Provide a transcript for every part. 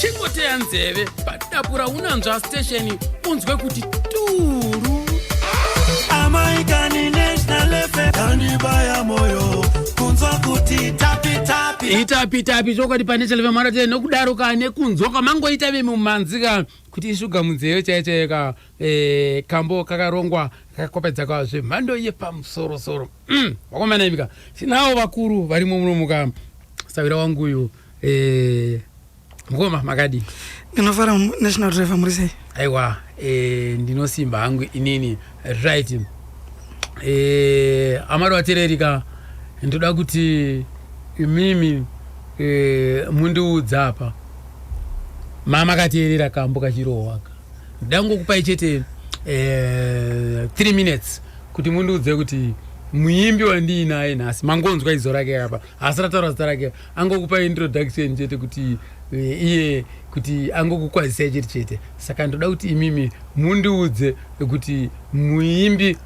chingoteya nzeve padapura unanzva stesheni unzwe kuti turu amaikani national efe kandibaya moyo kunzwa kuti tapitapi itapitapi chokwadi pane chaleva maratee nokudaro ka nekunzwa kwamangoita vemumhanzi ka kuti ishuga munzeve chaiye chaiye ka e, kambo kakarongwa kakakopedza kwa zvemhando yepamusoro soro mm, vakomana imika sinawo vakuru varimo muno muka sawira wangu uyu e, mukoma makadi ndinofara national driver muri sei aiwa e, ndinosimba hangu inini right e, amari vatererika ndoda kuti imimi e, mundiudza apa mama kateerera kambo kachirohwaka ndangokupai chete eh, three minutes kuti mundiudze kuti muimbi wandiinaye nhasi mangonzwa izo rake apa haasi rataura zita rake angokupa introduction chete kuti eh, iye kuti angokukwazisai chete chete saka ndoda kuti imimi mundiudze kuti muimbi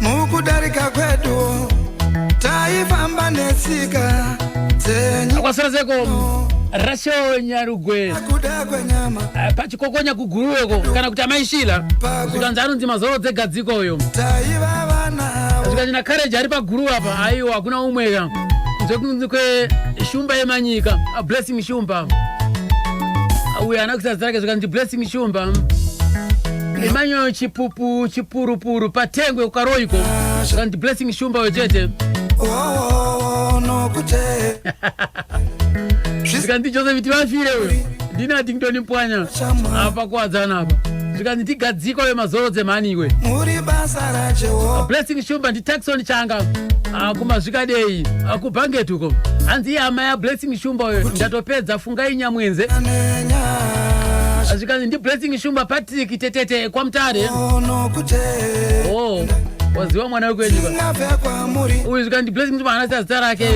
mukudarika kwedu taifamba netsika dzenyu kwasara zeko rasho nyarugwe kuda kwenyama eh, pachikokonya kuguruweko kana kuti amaishila zvikanzi anonzi mazoro dzegadziko uyo taiva vana avo zvikanzi na courage ari paguru apa aiwa hakuna umweka kunze kunzi kwe shumba yemanyika Ah, blessing shumba uyo ana kusazarake zvikanzi blessing shumba Emmanuel Chipupu Chipurupuru patengwe ukaroiko and blessing shumba wechete oh, no kute zvikanzi Joseph tivafire uyo ndini atingitoni mpwanya apa kuwadzana apa zvikanzi tigadzikwa we mazoro dzemhani iwe muri basa rajehovha blessing shumba ndi taxon changa ah, kumazvikadei ah, kubhangetuko hanzi iye hama ya blessing shumba uyo ndatopedza Ngai Nyamwenze zvikanzi ndiblessing shumba patrick tetete kwamutare oh, waziva mwana wekwenyu uyu zvikanzi ndiblessing shumba haana siya zita rake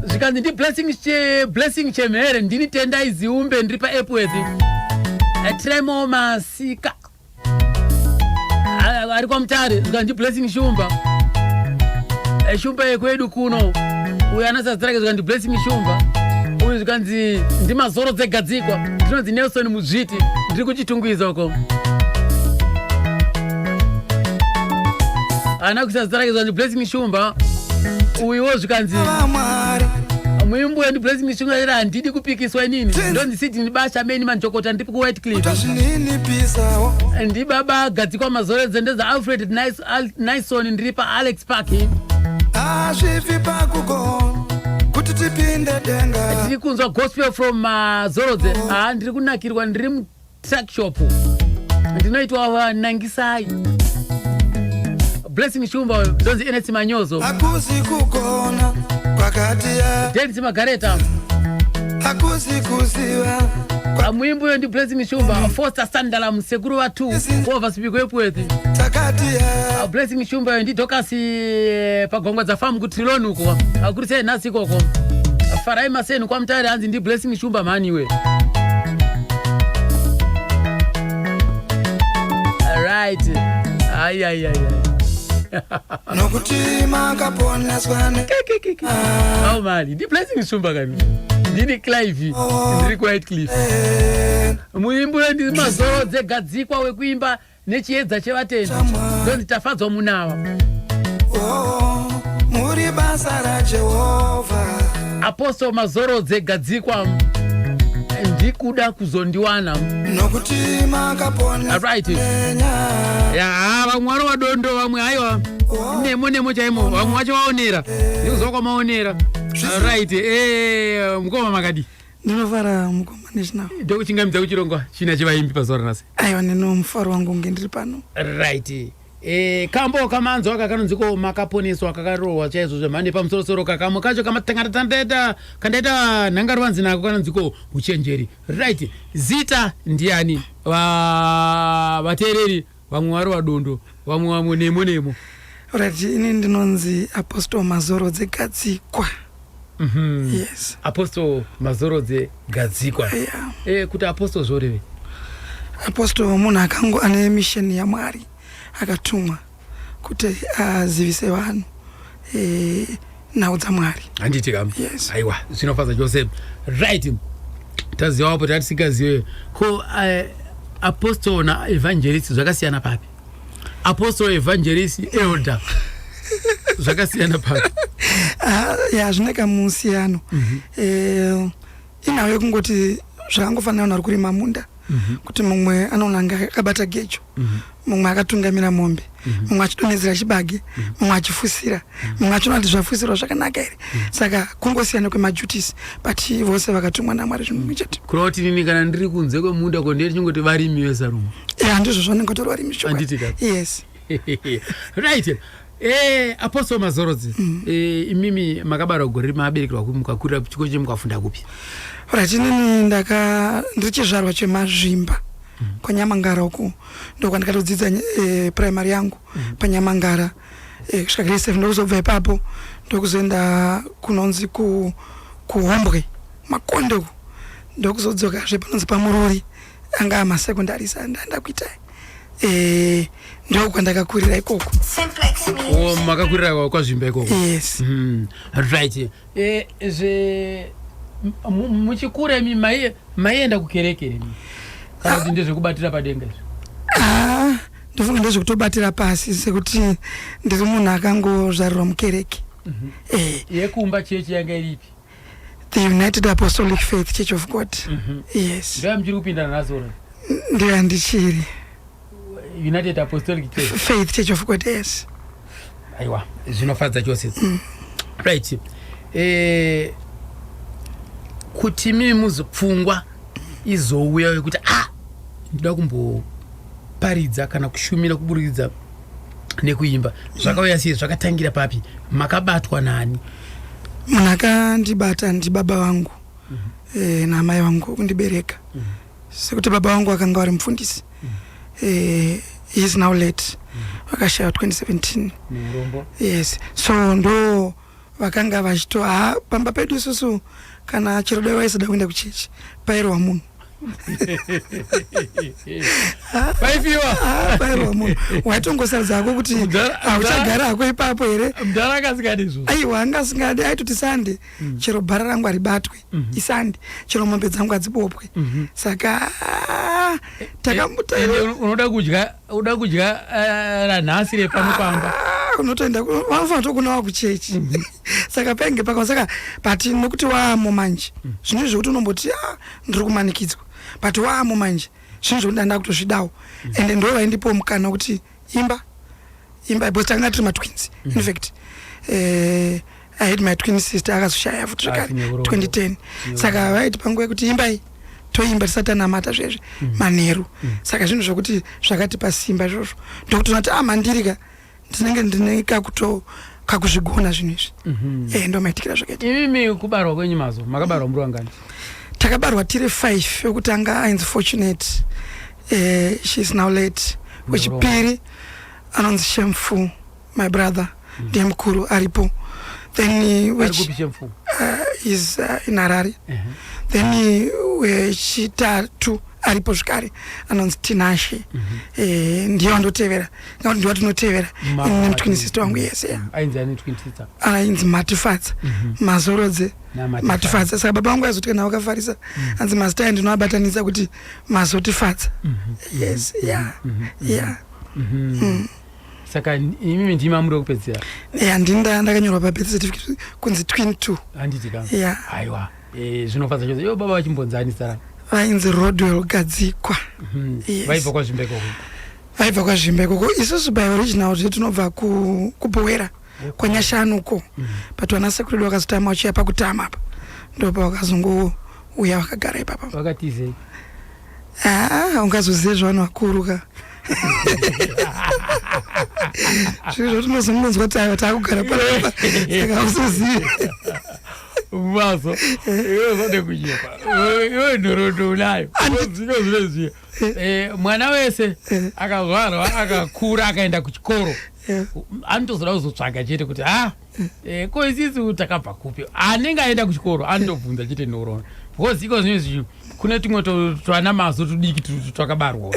zvikanzi ndiblessing che, blessing chemhere ndini tendai ziumbe ndiri paepworth eh, tremo masika ari kwa mutare zvikanzi blessing shumba eh, shumba yekwedu kuno uyo anasazita rake zvikanzi blessing shumba uyu zvikanzi ndimazoro dzegadzikwa ndinonzi nelson muzviti ndiri kuchitungwiza uko ana kuisa zita rake zvikanzi blessing shumba uyuwo zvikanzi muimbo wendi blessing shumba ira handidi kupikiswa inini ndonzi siti ndibasha meni manjokota ndibaba gadzikwa mazore dzende dzaAlfred Nison ndiri paAlex Park azvifi pakugo kuti tipinde denga tiri kunzwa gospel from mazorodze uh, haa ndiri kunakirwa ndiri mutrackshop ndinoitwa vanangisai blessing shumba uyo ndonzi enesi manyozo akuzi kugona kwakati ya denisi magareta hakusi kuziva Amwimbo yo ndi Blaze Mishumba, Foster Sandala, Msekuru wa 2, Clovis Bikwepweti. takati ya Blaze Mishumba yo ndi Dorcas eh, Pagongwa dza Farm ku Trilon uko. Akuri sei nhasi ikoko. Farai maseni kwa mutare hanzi ndi Blaze Mishumba mhani iwe. Alright. Ai ai ai. ai. nokuti makaponeswa ne ah. au mali ndi blessing shumba kani ndini clive oh. ndiri quiet cliff eh. muimbi uyo ndiri mazoro dzegadzikwa wekuimba nechiedza chevatendi ndonzi tafadzwa munawa oh, muri basa rajehovha apostle mazorodze gadzikwa ndikuda kuzondiwana nokuti makapona Alright. yaa vamwe wari wadondo vamwe haiwa nemo nemo chaimo vamwe wacho vaonera ndikuziva kwamaonera right eh, mukoma makadi ndinofara mukoma national ndokuchingamidza kuchirongwa china chevaimbi pazuva ranhasi aiwa neno mufaro wangu unge ndiri pano right Eh, kambo kamanzwa aka kanonzi ko makaponeswa kakarohwa chaizvo zvemhando yepamusorosoro kakamwe kacho kamatangaratandeta kandaita nhangarwanzi nako kanonzi ko uchenjeri right zita ndiani Va- vateereri vamwe vari vadondo vamwe vamwe nemo nemo Alright, ini ndinonzi Apostle Mazoro Dzegadzikwa. Mhm. yes apostle mazorodze gadzikwa yeah. Eh, kuti apostle zvorevei apostol munhu akango ane misheni yamwari akatumwa kuti azivise vanhu eh, nhau dzamwari handiti kam Yes. aiwa zvinofadza chose right taziva wapo tatisingazive ko eh, apostle naevangelist zvakasiyana papi apostle evangelist elder zvakasiyana papi ah, ya zvine kamusiyano mhm. eh, inhau yekungoti zvakangofanira unhu ari kurima munda mhm. kuti mumwe anoona nge akabata gejo mhm. mumwe akatungamira mombe mumwe achidonhedzera chibage mumwe achifusira mumwe achiona kuti zvafuisirwa zvakanaka here mm. saka kungosiyana kwemajutis but vose vakatumwa namwari zvinhu mumwe chete kureva kuti nini kana ndiri kunze kwemunda ko ndiri chingoti varimi vesarumu e eh, handizvo zvanenge kutori varimi yes right e eh, apostle mazorodzi mm. e, imimi makabara gore rima aberekerwa kupi mukakurira chiko che mukafunda kupi right inini ndaka ndiri chizvarwa chemazvimba mm. kwanyamangara uku ndokwandikatodzidza e, primary yangu mm. panyamangara eh, kusvika grade seven ndokuzobva ipapo ndokuzoenda kunonzi ku kuhombwe makonde uku ndokuzodzokazve panonzi pamurori anga amasekondari sa ndaenda kuita eh, ndiko kwandakakurira ikoko oh, makakurira kwazvimba ikoko yes mm, right eh, zve muchikura imi maienda kukerekere ah. ndezvekubatira padenga izvo ah. ndofunga ndozvekutobatira pasi sekuti ndiri munhu akangozvarirwa mukereke mhm. eh. yekumba chechi yanga iripi the united apostolic faith church of god mhm. yes ndoya muchiri kupinda nazoro ndoya ndichiri united apostolic church faith church of god yes aiwa zvinofadza chose mm. right eh, kuti mimi muzopfungwa izouya yekuti ah ndinoda kumboparidza kana kushumira kuburikidza nekuimba zvakauya sei zvakatangira papi makabatwa nani munhu akandibata ndibaba vangu mm -hmm. e, eh, naamai vangu kundibereka mm -hmm. sekuti baba vangu vakanga vari mupfundisi mm -hmm. e, he is now late mm -hmm. vakashaya 2017 yes so ndo vakanga vachito ha pamba pedu isusu kana chero dai vaisada kuenda kuchechi pairohwa munhu paifiwa pairohwa munhu waitongosaridza hako kuti hauchagara hako ipapo here mdara akasikadi izvo aiwa anga asingadi aitoti sande hmm. chero bhara rangu haribatwe mm -hmm. isandi chero mombe dzangu hadzibopwe mm -hmm. saka ah, takambutaunoda eh, eh, kudya uda kudya eh, ranhasi repano pamba ah, unotoenda vanofana tokunawa kuchechi mm -hmm. saka penge paka saka but nokuti waamo manje mm -hmm. zvinoi zvekuti unomboti a ah, ndiri kumanikidzwa but waamo manje zvinoi zvekuti ndandakutozvidawo mm -hmm. ende ndovaindipo mukana kuti mm -hmm. imba imba because takanga tiri matwins mm -hmm. infact uh, eh, i had my twin sister akazoshaya futi zvekare 2010 saka vaiti panguva yekuti imbai toimba tisati tanamata zvezve mm -hmm. manheru mm -hmm. saka zvinhu zvekuti zvakatipa simba izvozvo ndokutoona kuti amandirika ah, ndinenge ndine kakuto kakuzvigona zvinhu izvi mm -hmm. e, eh, ndomaitikira zvakaita imimi kubarwa kwenyu mazo makabarwa muri wangani takabarwa tiri five wekutanga ainzi fortunate uh, she's now late wechipiri anonzi shameful my brother mm. ndiye mukuru aripo then eh, which uh, is uh, in harare uh -huh. then uh, wechitatu aripo zvekare anonzi tinashe mm -hmm. e, eh, ndiye wandotevera ngakuti ndiwa tinotevera ine mutwinisista wangu yese mm, ainzi matifadza mm -hmm. mazorodze matifadza saka baba vangu aizoti kana wakafarisa mm. anzi mazita ayo ndinoabatanisa kuti mazotifadza mm -hmm. yes mm-hmm. yeah mm -hmm. yeah mm -hmm. mm. saka imimi ndimi amuri wekupedzisira ya ndini ndakanyorwa pabirth certificate kunzi twin two handiti ka ya aiwa e, zvinofadza chose yo baba vachimbonzani sara vainzi rodwell gadzikwa mhm. vaibva kwazvimbeko vaibva kwazvimbeko ko isusu by original zve tinobva kubhowera ku kwanyashanu uko mm. but vana sekuru vedu vakazotama vachiuya pakutama apa ndopa vakazongouya vakagara ipapa vakatizei ah, ungazozive zvavanhu vakuru ka zviri zvatinozongonzwa kuti ayo taakugara panapa saka usozive maso iwe zvanekunyepa iwe nhorondo unayo zvinozvineziya e, mwana wese akazvarwa akakura akaenda kuchikoro anotozoda kuzotsvaga chete kuti ha ah, e, ko isisu takabva kupi anenge aenda kuchikoro anotobvunza chete nhorona because iko zvinezvi kune tumwe twana mazo tudiki twakabarwa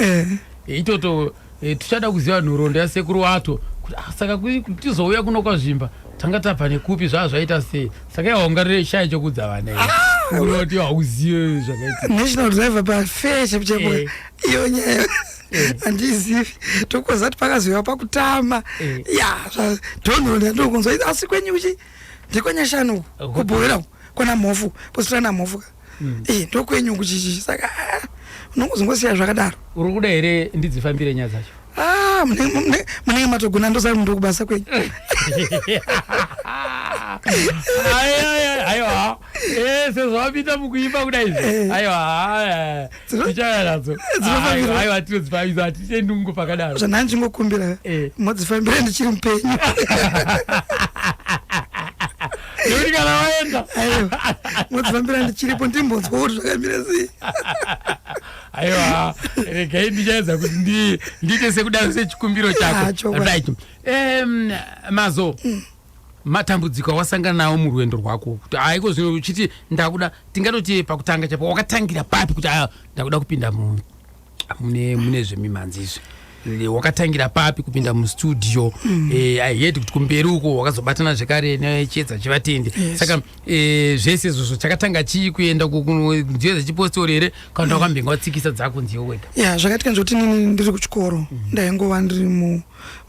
itoto E, tichada kuziva nhoroondo yasekuru wato kuti ah, saka tizouya kuno kwazvimba tanga tabva nekupi zvaa zvaita sei saka yaungarire shaya chokudza vana ah! unoti hauzive zvakaitanational driver pafair chapo chapo eh. iyo nyaya eh. handizivi tokozati pakazoiwa pakutama eh. ya donhoroondo yandokunzwa asi kwenyu kuchi ndikwenyashanu kubhoera kwana mhofu positana mhofu ka mm. eh, ndokwenyu kuchichichi saka ah, unongozongosiya zvakadaro uri kuda here ndidzifambire nyaya dzacho ah, munenge matogona ndosari mundo kubasa kwenyu aiwa eh, sezvawapinda mukuimba kuda izvi eh. aiwa tichauya nadzo Dzinofambirwa. aiwa tinodzifambisa hatichendi kungo pakadaro zvanhani chingokumbira Eh. modzifambira ndichiri mupenyu nekuti kana waenda aiwa modzifambira ndichiripo ndimbonzwa kuti zvakamira sei aiwa regai ndichaedza kuti ndi- ndiite sekudaro sechikumbiro Ah, chako chokwadi. right Em, mazo matambudziko awasangana nawo murwendo rwako kuti haiko zvino uchiti ndakuda tingatoti pakutanga chapo wakatangira papi kuti aya ndakuda kupinda mune mune zvemimhanzi izvi wakatangira papi kupinda mustudio mm. eh, i heard kuti kumberi uko wakazobatana zvekare nechiedza chevatendi yes. saka eh, zvese izvozvo chakatanga chii kuenda nziyo dzechipostori here kana wakambenge mm. watsikisa dzako nziyo wega ya yeah, zvakaitika nzvoti nini ndiri kuchikoro mm. ndaingova ndiri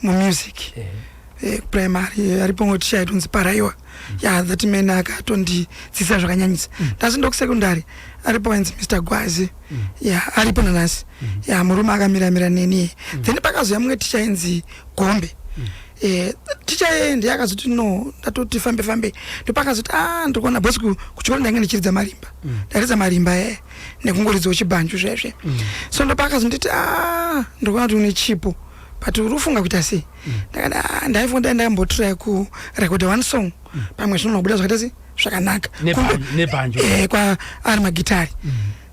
mumusic mu yeah. eh, primary eh, aripo ngo ticha itonzi paraiwa mm. ya yeah, that man akatondidzisa zvakanyanyisa mm. ndasi ndoku secondary aripo ainzi Mr Gwazi mm. ya yeah, aripo nanasi mm. ya yeah, murume akamira mira neni mm. then pakazoya mumwe ticha inzi Gombe mm. Eh, ticha yeye ndiye akazoti no ndatoti fambe fambe ndopakazoti a ah, ndiri kuona bos kuchikoro ndainge ndichiridza marimba mm. ndaridza marimba e eh, nekungoridzawo chibanju zvesve mm. so ndopakazonditi a ah, ndiri kuona kuti une chipo but uri kufunga kuita sei ndakati ah, ndaifunga dai ndaimbotry ku record one song pamwe zvinobuda zvakaita sei zvakanaka Kumbe- nebanjo eh, kwa ari magitari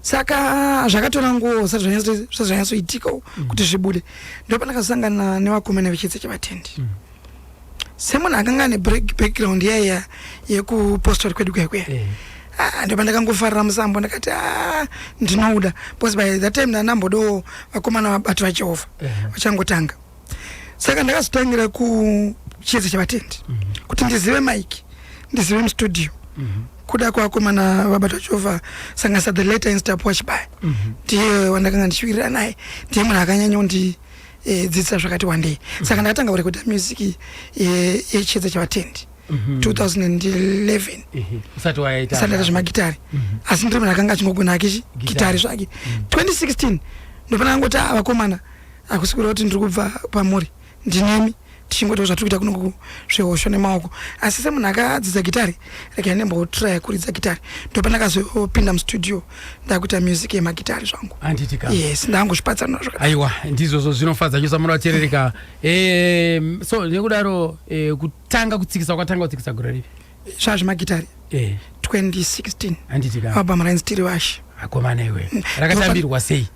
saka zvakatora nguo zvisati zvanyatso- zvisati zvanyatsoitika kuti zvibude ndopanakasangana nevakomana vechitse chevatendi semunhu akanga ane break- background yaiya yekupostori kwedu kuya kuya Eh. Ah, ndipo ndakangofarira musambo ndakati "Ah, ndinouda because by that time ndanambodawo vakomana vabati vajehovha Eh. vachangotanga saka ndakazotangira kuchiedza chavatendi mm -hmm. kuti ndizive mike ndizive mustudio mm -hmm. kuda kwakomana vabata chova sangasa the later instap wachibaya mm -hmm. ndiye wandakanga ndichiwirira naye ndiye munhu akanyanya undi eh, dzidzisa zvakati wandei mm -hmm. saka ndakatanga kurekoda music eh, yechiedza e, chavatendi mm -hmm. 2011 mm -hmm. usati waita zvemagitari mm -hmm. asi ndiri munhu akanga achingogona ake gitari zvake mm -hmm. 2016 ndopana angoti avakomana ah, Hakusi kureva kuti ndiri kubva kwamuri, ndinemi tichingoitawo zvatiri kuita kuno kuzvihosho nemaoko. Asi semunhu akadzidza gitare, regai ndimbotraya kuridza gitare. Ndopandakazopinda mustudio ndakuita music yemagitare zvangu. Handiti ka? Yes, ndangozvipatsanura zvakadaro. Aiwa, ndizvozvo zvinofadza chose amuna vateereri ka. Eh, so nekudaro eh, kutanga kutsikisa kwatanga kutsikisa gore ripi? Zvaa zvemagitare Eh, 2016 handiti ka? album rainzi tiri vashe. Akomana iwe. Rakatambirwa sei?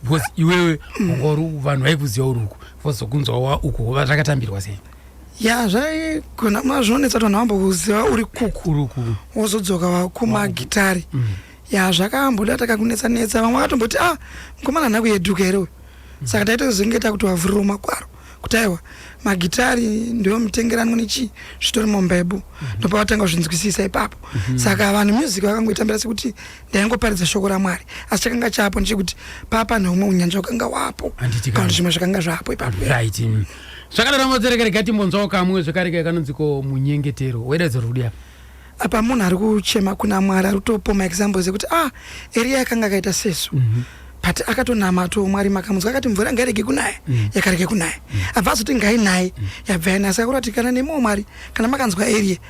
because iwewe ungori vanhu vaikuziva uri uku vozokunzwa wa uku hova zvakatambirwa sei ya zvaigona ma zvinonetsa kuti vanhu vamba kuziva uri kuku uri uku wozodzoka kumagitari mm. ya zvakamboda takakunetsa netsa vamwe vakatomboti ah mukomana nhako yeduka here uyu mm. saka taita kuzenge takuti wavhuriro makwaro kuti aiwa magitari ndiwo mutengeranwa nechii zvitori mumbebo mm-hmm. ndopavatanga kuzvinzwisisa ipapo mm-hmm. saka vanhu music vakangoitambira sekuti ndaingoparidza shoko ramwari asi chakanga chapo ndechekuti papa neumwe unyanja wakanga wapo kana zvimwe zvakanga zvapo ipapo mm. zvakadaro motsereka rega timbonzwawo kamwe zvekareka kanonziko munyengetero wededzo rudi apa apa munhu ari kuchema kuna mwari ari kutopo maexamples ekuti ah eriya yakanga akaita sesu mm -hmm but akatonamato mwari makamunzwa akati mvura ngairege kunaya mm. yakarege kunaya mm. abva azoti ngainaye mm. yabva yanasa kuratikana nemumwe mwari kana makanzwa eriye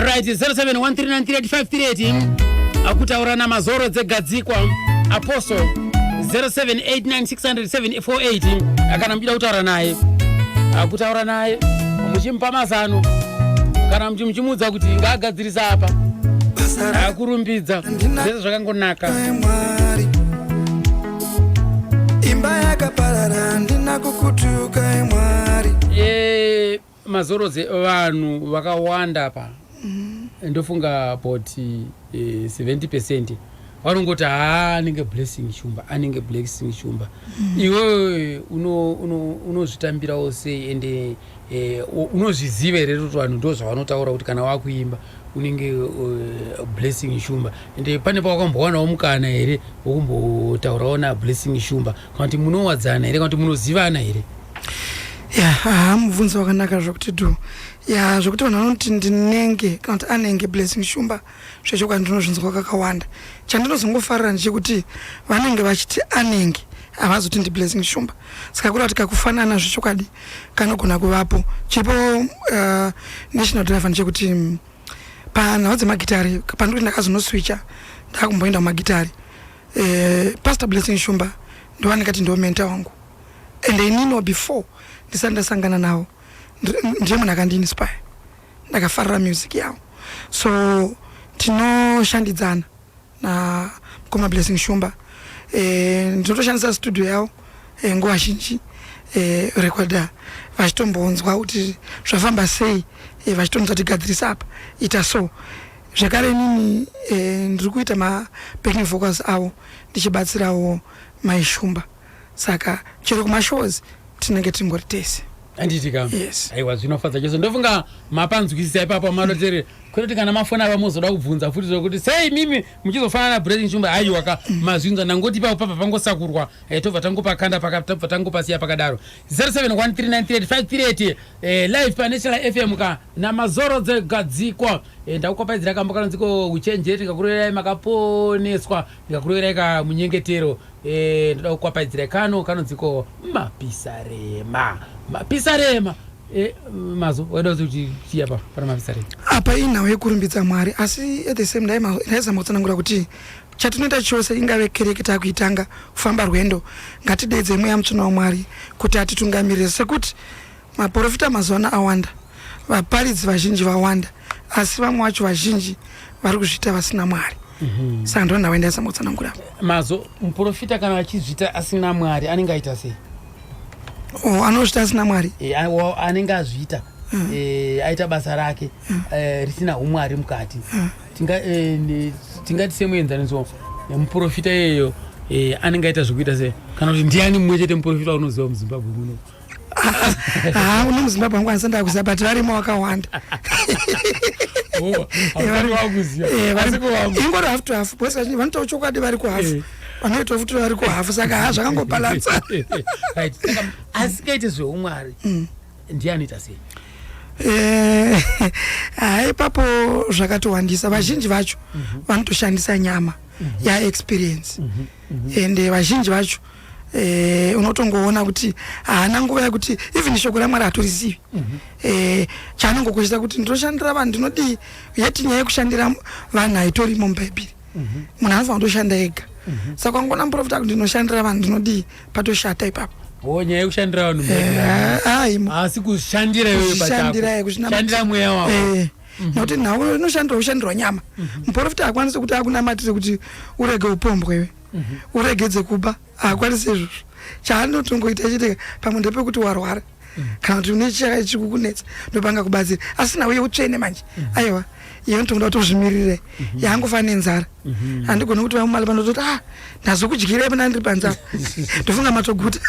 right 0713938538 akutaura namazoro dzegadzikwa apostle 0789600748 kana muchida kutaura naye akutaura naye muchimupa mazano kana muchi- muchimuudza kuti ngaagadzirisa apa akurumbidza zvese zvakangonaka Mwari imba yakaparara handina kukutuka emwari e, mazorodze vanhu vakawanda pa mm. ndofunga but e, 70 percent vanongoti haa anenge blessing shumba anenge blessing shumba mm. iwewe unozvitambirawo uno, uno sei ende Eh, unozviziva here kuti vanhu ndo zvavanotaura kuti kana wakuimba unenge uh, blessing shumba ende pane pawakambowanawo mukana here wokumbotaurawo nablessing shumba kana kuti munowadzana here kana kuti munozivana here ya aha mubvunzo wakanaka zvokuti du ya zvokuti vanhu vanoti ndinenge kana kuti anenge blessing shumba zvechokwadi ndinozvinzwa kakawanda chandinozongofarira ndechekuti vanenge vachiti anenge havazoti ndiblessing shumba saka kuri kuti kakufanana zvechokwadi kanogona kuvapo chiripo uh, national driver ndechekuti mm, panhau dzemagitari pandiri kuti ndakazonoswicha ndakumboenda kumagitari eh, pastor blessing shumba ndovanikati ndiwo menta wangu and ininiwo before ndisati ndasangana navo ndiye munhu akandiinspire ndakafarira music yavo so tinoshandidzana na mkoma blessing shumba eh, ndinotoshandisa studio yavo eh, nguva zhinji eh, rekoda vachitombonzwa kuti zvafamba sei eh, vachitonzwa tigadzirisa apa ita so zvekare inini eh, ndiri kuita mabaking vocals avo ndichibatsirawo maishumba saka chero kumashows tinenge tingori tese handiti ka yes. aiwa zvinofadza chose ndofunga mapanzwisisa ipapo malotere kutoti kana mafona ava mozoda kubvunza futi zvokuti sei mimi muchizofanana na breaking shumba aiwa ka mm. mazvinza ndangoti ipapo pabva pangosakurwa eh, tobva tangopakanda tabva tangopasiya pakadaro 0713938538 eh, live panational fm ka namazoro dzegadzikwa eh, ndakukopaidzira kambo kanonziko uchenjeri ndikakuroverai makaponeswa ndikakuroverai ka munyengetero Eh, ndoda kukwapaidzira kano kanonzi ko mapisarema mapisarema eh, mazo waida kuzi kuti chii apa pana mapisarema apa inhau yekurumbidza mwari asi at the same time ndaizama kutsanangura kuti chatinoita chose ingave kereke takuitanga kufamba rwendo ngatidedze mweya mutsvina wamwari kuti atitungamirire sekuti Maporofita mazuva ano awanda, vaparidzi vazhinji vawanda, asi vamwe vacho vazhinji vari kuzviita vasina Mwari. Mhm. Saka ndona waenda yasama kutsanangura. Mazo muporofita kana achizvita asina Mwari anenge aita sei? Oh, anozvita asina Mwari. Eh, anenge azvita. Mm. Eh, aita basa rake mm. eh, risina umwari mukati mm. eh, tingati semuenzaniso muprofita iyeyo anenge aita zvekuita se kana kuti ndiani mumwe chete muprofita unoziva muzimbabwe muno haa uno muzimbabwe wangu anisa ndakuziva but varimo wakawanda ingori hafu to hafu bose vazhinji vanotaura chokwadi vari kuhafu eh. vanoitawo futi vari kuhafu saka haa zvakangopalatsa asikaite zveumwari mm. ndiye anoita sei eh, haa ipapo zvakatowandisa vazhinji vacho mhm. vanotoshandisa nyama mhm. yaexperience mhm. ende vazhinji vacho eh, unotongoona kuti haana nguva yekuti even shoko ramwari hatirizivi mm -hmm. eh, chaanongo kuchita kuti ndoshandira vanhu ndinodii yet nyaya yekushandira vanhu haitorimo mubhaibhiri mm -hmm. munhu anofanira kutoshanda ega mm -hmm. saka kwangoona muprofita kuti ndinoshandira vanhu ndinodii patoshata ipapo Oh, nyaya yekushandira vanhu haasi eh, kushandira iyoyokushandira mweya wavo eh, mhm. nokuti nhau inoshandira kushandirwa nyama mhm. muprofita akwanise kuti akunamatire kuti urege upombwewe uregedze kuba haakwanisi izvozvo chaanotongoita chete pamwe ndepekuti warwara kana kuti une chiya chikukunetsa ndopanga kubatsira asi nawo yeutsvene manje aiwa iyo nditokuda kuti uzvimirire yaangofa nenzara handigoni kuti vamumali pano toti ah ndazokudyirai pana ndiri panzava ndofunga matoguta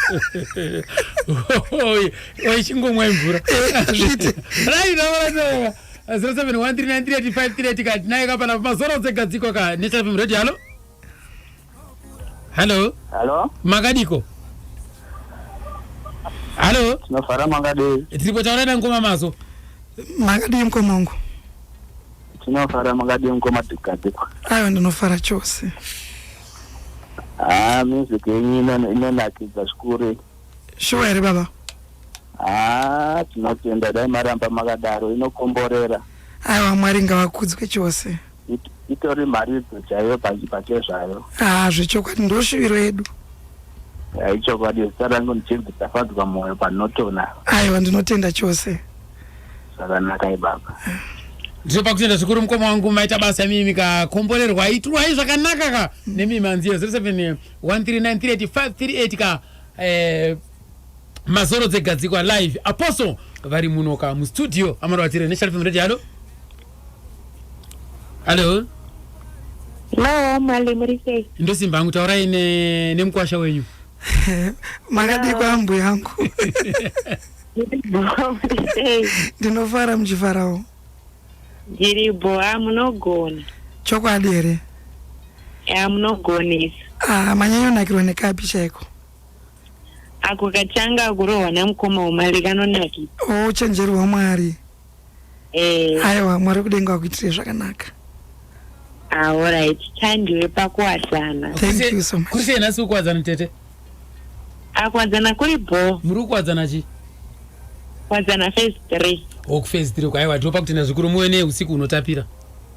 waichingomwa imvura hazviite rainaaa 0713938538 naye kapana mazoro dzegadziko ka nechafim radio halo hallo hallo makadiko hallo tinofara makadii tiri kutaura nangoma mazo makadii mkoma wangu tinofara makadii mkoma dikadikwa aiwa ndinofara chose haa ah, music yenyu inonakidza zvikuru shuwa here baba haa ah, tinotenda dai maramba makadaro inokomborera aiwa mwari ngavakudzwe chose It- itori mharidzo chaiyo pachi- pachezvayo ah zvechokwadi ndoshuviro yedu Eh, ichokwadi zita rangu ndichinzi tafadzwa mwoyo panotona aiwa ndinotenda chose zvakanaka ibaba ndiri pakutenda zvikuru mukoma wangu maita basa imimi kakomborerwa itirwai zvakanaka ka nemimi manzi 0713938538 ka eh, mazoro dzegadzikwa live apostle vari muno ka mustudio amari vatire nesharfm radio halo Hello. Hello, mali muri sei? Ndosimba hangu taurai ne nemkwasha wenyu. Makadii kwambu yangu? Ndinofara muchifarawo. Ndiri bho, ah, munogona. Chokwadi here? Ya munogonesa. Ah, manyanyo nakirwa nekapi chaiko? Ako kachanga kurohwa namukoma umali kanonakisa. Oh, chenjerwa mwari. Eh. Aiwa Mwari wekudenga wakuitire zvakanaka. Ah, all right. Tandiwe pakuwadzana. Thank you so much. Kuri sei nhasi kukuwadzana tete? Akuwadzana kuri bho. Muri kuwadzana chi? Kuwadzana phase 3. Oh, phase 3 kwaiwa ndinopa kutenda zvikuru muwe neusiku unotapira.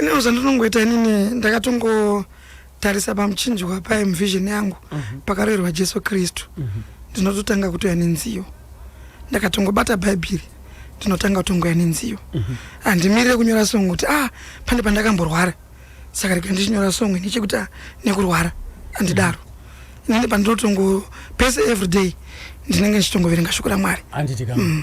inini zvandinongoita inini ndakatongotarisa pamuchinjwa paye muvision yangu uh mhm. -huh. pakaroerwa jesu kristu uh mhm. -huh. ndinototanga kutoya nenziyo ndakatongobata bhaibheri ndinotanga kutongoya nenziyo uh mhm. -huh. handimirire kunyora songo kuti ah pane pandakamborwara saka rega ndichinyora songo ini chekuti ah, nekurwara handidaro uh -huh. inini pandinotongo pese every day ndinenge ndichitongoverenga shoko ramwari handiti kama mm.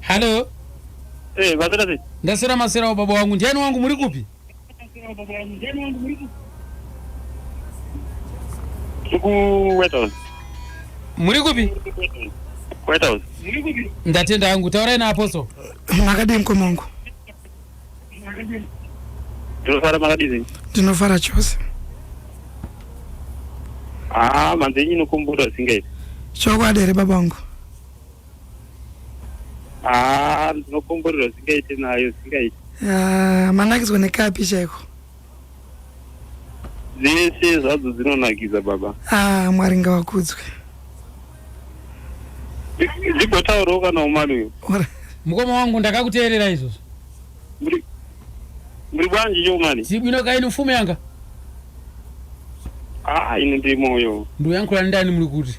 Hello. Eh, vasera sei? Ndasera masera baba wangu. Ndiani wangu muri kupi? Ku White House. Muri kupi? White House. Ndatenda hangu. Taurai na apostle. Makadii mkoma wangu? Ndinofara makadii? Ndinofara chose. Ah, manzenyi inokomboda singaiti. Chokwadi here baba wangu? haa ndinokomborerwa zvingaite nayo zvingaite Ah, manakidzwa nekapi chaiko dzese zvadzo dzinonakidza baba ah, mwari ngavakudzwe Ndi- ndigotaurawo kana umani uyo Ora- mukoma wangu ndakakuteerera izvozvo muri muri bwanji choumani zibwino kaini mfumo yanga haa ini ndiri moyo ndoyankhula ndani muri kuti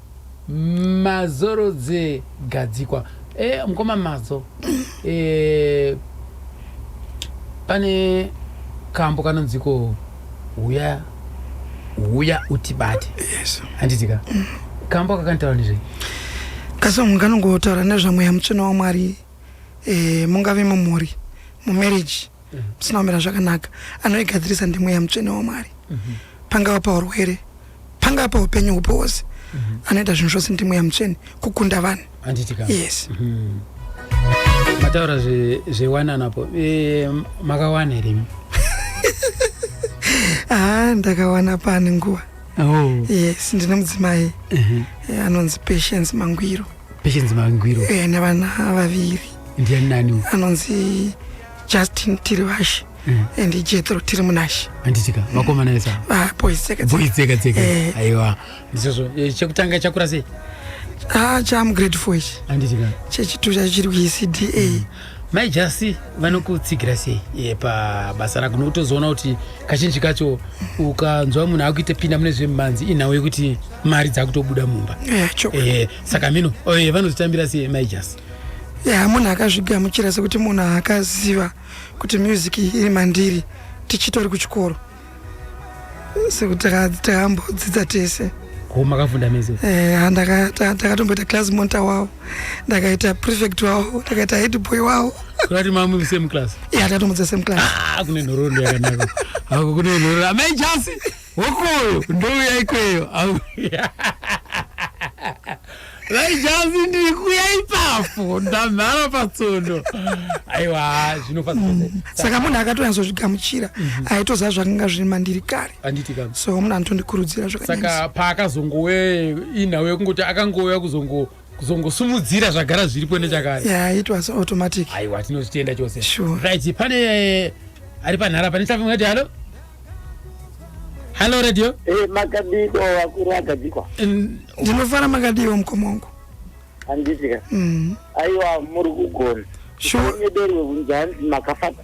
Mazoro dze gadzikwa. Eh mkoma Mazo eh pane kambo kanonziko huya huya utibate. Yes. Handiti ka? Kambo kakanitaura nezvei? Kasong kanongotaura nezvamweya mutsvina waMwari eh mungave mumhuri mumarriage musina kumira zvakanaka anoigadzirisa ndimweya mutsvene wamwari mhm. pangava paurwere pangava paupenyu hupo hwose mhm. anoita zvinhu zvose ndimweya mutsvene kukunda vanhu yes mhm. mataura zvewananapo eh, makawana here haa ah, ndakawana pane nguva oh. yes ndine mudzimai eh, anonzi patience mangwiro patience mangwiro eh, nevana vaviri ndiani nani anonzi justin tiri vashe mm. and jethro tiri munashe anditika vakomana esa vaboisekatsekatseka eh. aiwa ndizvozvo eh, chekutanga chakura sei ah cham grade four ichi anditika chechitu chacho chiri kuecda mm. mai jasi vanokutsigira sei eh, pabasa rako nokutozoona kuti kazhinji kacho ukanzwa munhu akuita pinda mune zvemumhanzi inhau yekuti mari dzakutobuda mumba saka mino vanozotambira sei mai jasi ya munhu akazvigamuchira sekuti munhu akaziva kuti music iri mandiri tichitori kuchikoro sekuti takambodzidza tese makafunda mese eh, ndakatomboita class monta wavo ndakaita prefect wavo ndakaita head boy wavo kati mamwe same class ya tatombodza same class ah, kune nhoroondo yakanaka ako kune nhoroondo amai jasi hokoyo ndouya ikweyo vaijazi ndiri kuya ipapo ndamhara patsondo aiwa zvinofasa mm. saka munhu akatonyatsozvigamuchira mhm. aitoziva zvakanga zviri mandiri kare so munhu anotondikurudzira zvakasaka paakazongouya inhau yekungoti akangouya kuzongo kuzongosimudzira zvagara zviripo nechakare yeah, it was automatic aiwa tinozvitenda chose sure. right pane eh, ari panhara pane tafi mwati halo halo radio hey, eh, makadiko vakuru agadzikwa ndinofara makadiwo mukoma wangu handisika mm. aiwa muri kugona sure. nyederi wekunzi hanzi makafata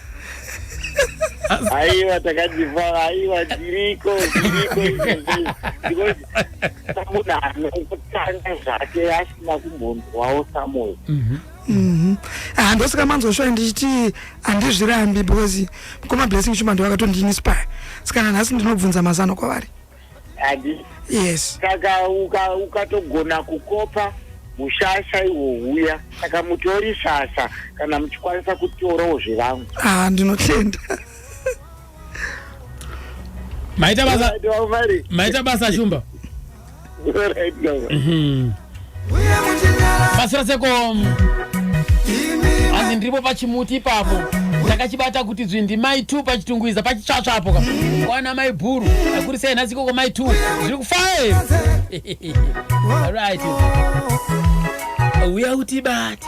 aiwa takajivhara aiwa zviriko zviriko izvozvo tabuda anokutanga zvake asina kumbonzwawo samoyo mhm. mhm. ah, ndosaka manzoshoa ndichiti handizvirambi because mukoma blessing chuma ndiwakatondinispire saka nanhasi ndinobvunza mazano kwavari yes saka ukatogona uka kukopa mushasha iwo uya saka mutori shasha kana muchikwanisa kutorawo zvevangu ah ndinotenda maita basa maita basa shumba right, no. mm -hmm. basira seko hanzi ndiripo pachimuti ipapo ndakachibata kuti dzwi ndimai t pachitungwiza pachitsvatsva apo ka kwana mai bhuru akuri sei nhasi ikoko mai t zviri kufae right uya utibate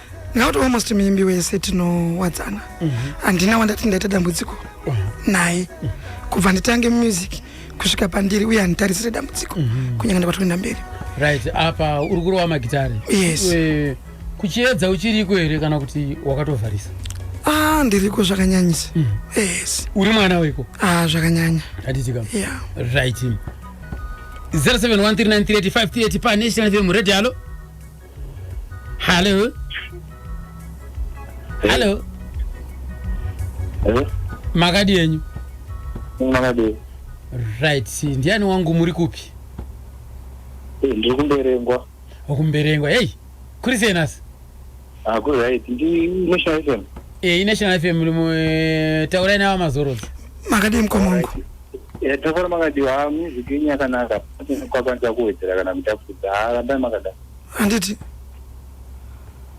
ndinoti almost muimbi wese tinowadzana mhm. handina wandati ndaita dambudziko mhm. naye mhm. kubva nditange music kusvika pandiri uye handitarisire dambudziko kunyange ndakatoenda mberi right apa uri kurova magitare yes kuchiedza uchiriko here kana kuti wakatovharisa ah ndiriko zvakanyanyisa yes uri mwana weko ah zvakanyanya hatitika yeah. right 0713938538 pa national fm radio halo Hello. Hello. Hello. Makadi yenyu. Makadi. Right. Ndiani wangu muri kupi? Eh, ndiri kumberengwa. Okumberengwa. Hey. Kuri sei nasi? Ah, kuri right. Ndi National FM. Eh, National FM muri mu eh, taurai nawo mazorodzi. Makadi mkomongo. Eh, tafara makadiwa ha music yenyu yakanaka kwakwanisa kuwedzera kana kutapudza ha rambai makadaro handiti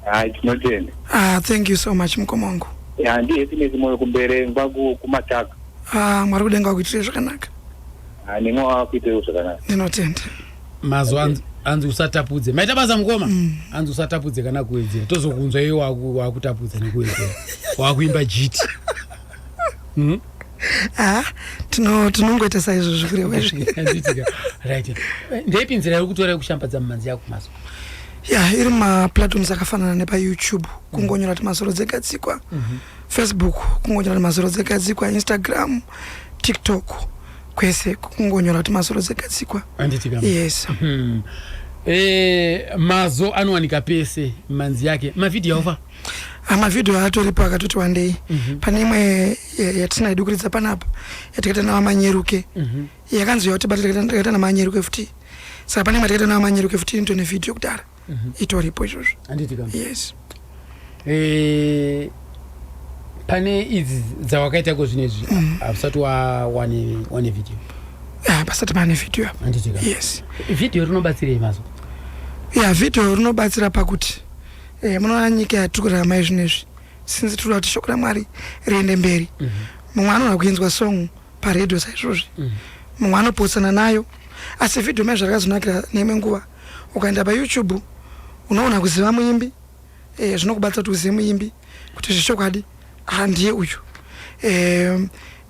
hai tinotenda ah, thank you so much mukoma wangu ya ndihappiness moyo kumbere ngwa ku- kumataka ah, mwari kudenga wakuitire zvakanaka Ah, nemwe wakuitewo zvakanaka ndinotenda mazuva anzi- anzi usatapudze maita basa mukoma anzi usatapudze kana kuwedzera tozokunzwa iwe waku- wakutapudza nekuwedzera wakuimba jiti Mhm. tinongoita saizvo zvikurewezvndepi nzira yokutora yokushambadza mumhanzi yako maso ya iri maplatforms akafanana nepayoutube kungonyora ti masoro dzegadzikwa mhm. facebook kungonyora ti masoro dzegadzikwa instagram tiktok kwese kungonyora kuti masoro dzegadzikwa yes hmm. eh, mazo anowanika pese manzi yake mavhidhiyo aofa Ah, mavhidhiyo atoripo akatoti wandei mhm. pane imwe yatisina yedu kuridza panapa yatakaita navamanyeruke mhm. yakanzi yauti bata takaita namanyeruke futi saka pane imwe yatakaita navamanyeruke futi into nevhidhiyo kudhara mhm. itoripo izvozvo yes eh, pane idzi dzawakaita ko zvino izvi hausati wane vhidhiyo ah, pasati pane vhidhiyo apa yes vhidhiyo rinobatsirei mazo ya vhidhiyo rinobatsira pakuti Eh, munoona nyika yatiri kurarama izvi nezvi since tinoda kuti shoko ramwari riende mberi mhm. mumwe anoda kuinzwa song paredio saizvozvi mhm. mumwe anopotsana nayo asi vhidhiyo mai zvarakazonakira neimwe nguva ukaenda payoutube unoona kuziva muimbi eh, zvinokubatsira kuti uzive muimbi kuti zvechokwadi handiye uyu eh,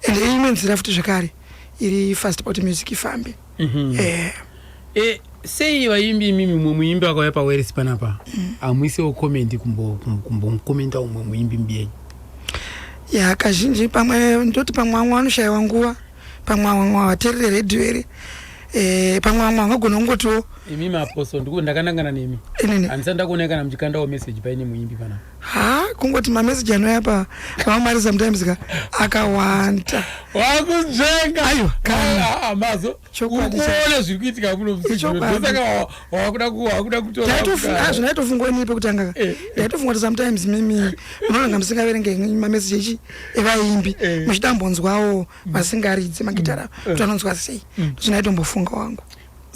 and imwe nzira futi zvekare iri fast poti music ifambe Mhm. Eh, Eh, sei vaimbi imimi mumwe muimbi akauya paweresi panapa Mm. hamuisewo comment kumbo- kum- kumbomukomenta umwe muimbi mbiyenyu ya kazhinji pamwe ndoti pamwe vamwe vanoshaiwa nguva pamwe vamwe havaterere redhiyo iri Eh, pamwe vamwe vangagona kungotiwo imi maapostle ndiko ndakanangana nemi Inini. handisati ndakuonai kana muchikandawo message paine muimbi panapa haa kungoti mameseji anouya pa vamwari sometimes ka akawanda wakunzvenga aiwa kamazo ukuone zviri kuitika munomusaka wakuda wakuda kutoazvona ndaitofunga ini pekutanga ka eh. ndaitofunga kuti sometimes mimi munonanga musingaverenge mameseji echi evaimbi eh. muchidambonzwawo mm. vasingaridzi magitara mm. kuti anonzwa sei mm. ndozvona aitombofunga wangu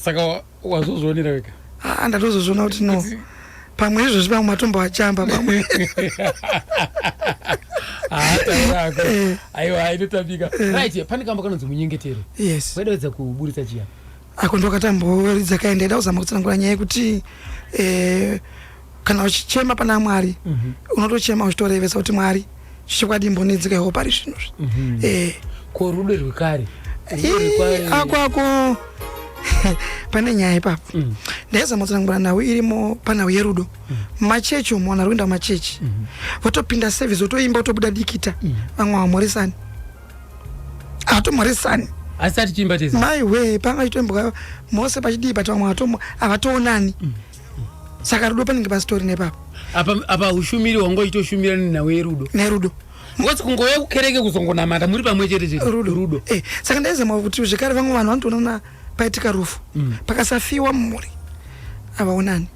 saka wazozvionera wega aa ndatozozviona kuti no pamwe izvozvi vamwe matomboachamba pamwe haataurako ah, eh. aiwa inotambika eh. right pane kamba kanonzi munyengetero yes waidaidza kuburitsa chiya ako ndokatamboridza kaendaida kuzama kutsanangura nyaya yekuti eh, kana uchichema pana mwari mm -hmm. unotochema uchitorevesa kuti mwari chichokwadi imbonedzeka iwo pari zvino zvi mm -hmm. eh. ko rudo rwekare akwako ah, pane nyaya ipapo mm. ndaizama kutsanangura nhau irimo panhau yerudo mm. machechi umu vanhu ari kuenda kumachechi mm -hmm. votopinda service votoimba votobuda dikita mm. vamwe havamhoresani hatomhoresani asi atichiimba tese maiwe panga chitoimbwa mose pachidii but vamwe havatoonani mm. saka rudo panenge pasitori nepapa apa apa ushumiri wangoitoshumira nenhau yerudo nerudo ngozi kungouya kukereke kuzongonamata muri pamwe chete chete rudo rudo eh, saka ndaizama kuti zvekare vamwe vanhu vanotoonana paitika rufu mm. pakasafiwa mumhuri havaonani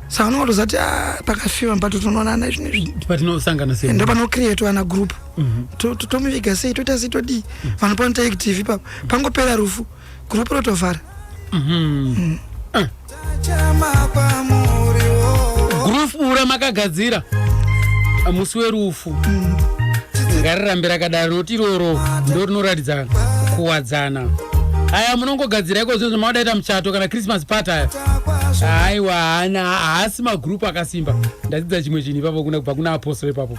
saka vanonga kutozati ah, pakafiwa patotonoonana izvi nezvi patinosangana sei ndo panokrietwa ana group mm -hmm. tomuviga sei toita sei todii mm -hmm. vanhu panoita active ipapo pangopera rufu group rotovhara mm-hmm. eh. group ura makagadzira ah, musi werufu mm. ngarirambe rakadaro noti iroro ndo rinoratidza kuwadzana aya munongogadzira iko zvinhu zvamaudaita muchato kana christmas part aya aiwa haana haasi magrupu akasimba ndadzidza chimwe chinhu ipapo kuna kubva kuna apostol ipapo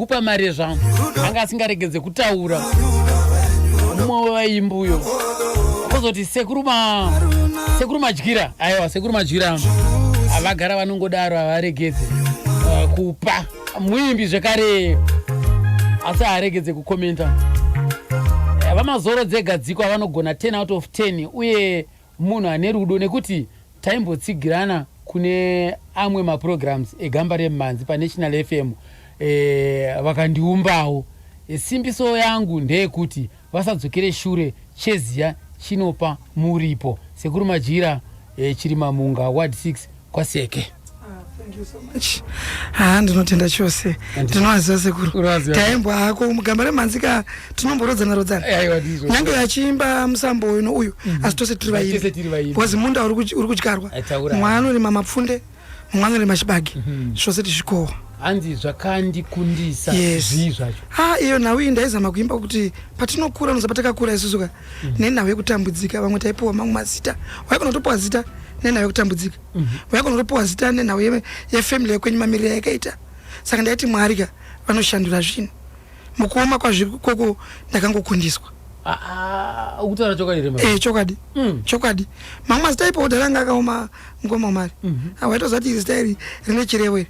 kupa mari yezvangu anga asingaregedze kutaura mumwe wevaimbi uyo kozoti sekuru ma sekuru madyira aiwa sekuru madyira havagara vanongodaro havaregedze eh, kupa muimbi zvekare asi haaregedze kukomenta Eh, vamazoro dzegadziko avanogona 10 out of 10 uye Munhu ane rudo nekuti taimbotsigirana kune amwe maprograms egamba remhanzi paNational FM e, vakandiumbawo. E, simbiso yangu ndeyekuti vasadzokere shure cheziya chinopa muripo. Sekuru Majira e, Chirimamunga Ward 6 kwaseke haa ndinotenda chose ndinoaziva sekuru taembwa hako mugamba remhanzi ka tinomborodzana rodzana nyange yachiimba musambo uno uyu mhm. asi tose tiri vaimbi bcause munda uri kudyarwa mumwe anorima mapfunde mumwe anorima chibage mhm. zvose tizvikohwa hanzi zvakandikundisa zvii zvacho ha iyo nhau iyi ndaizama kuimba kuti patinokura nozapatakakura isusuka mm. nenhau yekutambudzika vamwe taipiwa mamwe mazita waigona kutopiwa zita nenhau yekutambudzika mm -hmm. waigona kutopiwa zita nenhau yefamily yekwenyu mamiriro yakaita saka ndaiti mwari ka vanoshandura zvinhu mukuoma kwazviri koko ndakangokundiswa ukutaura chokwadi here eh chokwadi mm. chokwadi mamwe mazita ipo kudhara anga akaoma mukoma wamari mm -hmm. awaitoziva kuti iri zita iri rine chirevo iri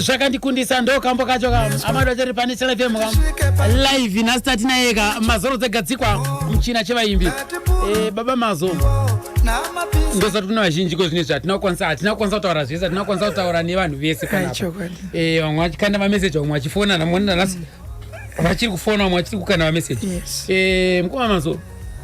zvakandikundisa ndo kambo kacho ka amado chiri pane chelfm ka live nhasi tati naye ka mazoro dzegadzikwa muchina chevaimbi eh, baba mazo ndosati kuna vazhinji ko zvine zvatina kukwanisa hatina kukwanisa kutaura zvese hatina kukwanisa kutaura nevanhu vese eh, vamwe vachikanda mameseji vamwe vachifona namoni nanasi vachiri kufona vamwe vachiri kukanda mameseji eh, mukoma mazo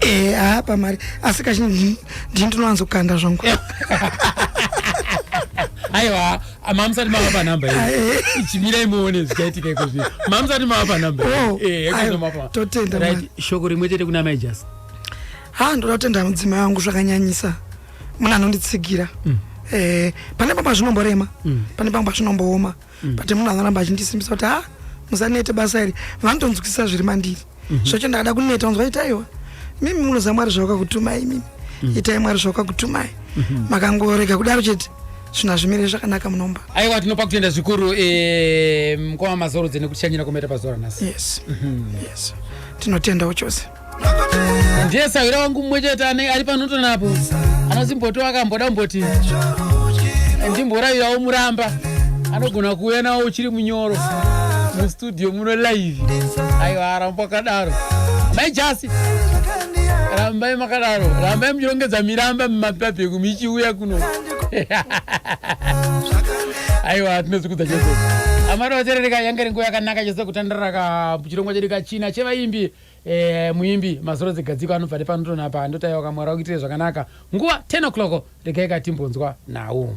Eh, haa pamari asi kachi ndini ndinowanzokanda zvangu aiwa mamusati mava panumbe chimirai muone zvichaitika iko zvi mamusati mava panumbe oh, eh, totenda shoko rimwe chete kuna mai jasi ha ndoda kutenda mudzima yangu zvakanyanyisa munhu anonditsigira mm. eh, pane pamba zvinomborema mm. pane pamba zvinombooma mm. mm. but munhu anoramba achindisimbisa kuti ha musanete basa iri vanotonzwisisa zviri mandiri mm -hmm. zvacho ndakada kuneta unzwa itaiwa mimi munoziva mwari zvawakakutumai mimi mm. itai mwari zvawakakutumai mm -hmm. makangorega kudaro chete zvina zvimire zvakanaka munomba aiwa tinopa kutenda zvikuru e, mukoma mazorodze nekuti chanyira kometa pazuva ranhasi yes. mm -hmm. yes. tinotendawo chose ndiye sahwira wangu mumwe chete ane ari panoto napo anozimboto akamboda kumboti ndimboravirawo muramba anogona kuuya nawo uchiri munyoro mustudio muno live aiwa aramba akadaro mai jasi rambai makadaro rambai muchirongedza miramba mumapapegu michiuya kuno aiwa tinozikudza chose amari vaterereka yanga ringuva yakanaka chose kutandiraka chirongwa chedu kachina chevaimbi Eh, muimbi mazuro dzegadziko anobva nepanoto napa ndotaiwa kamwari wakuitire zvakanaka nguva 10 o'clock regai katimbonzwa nhau.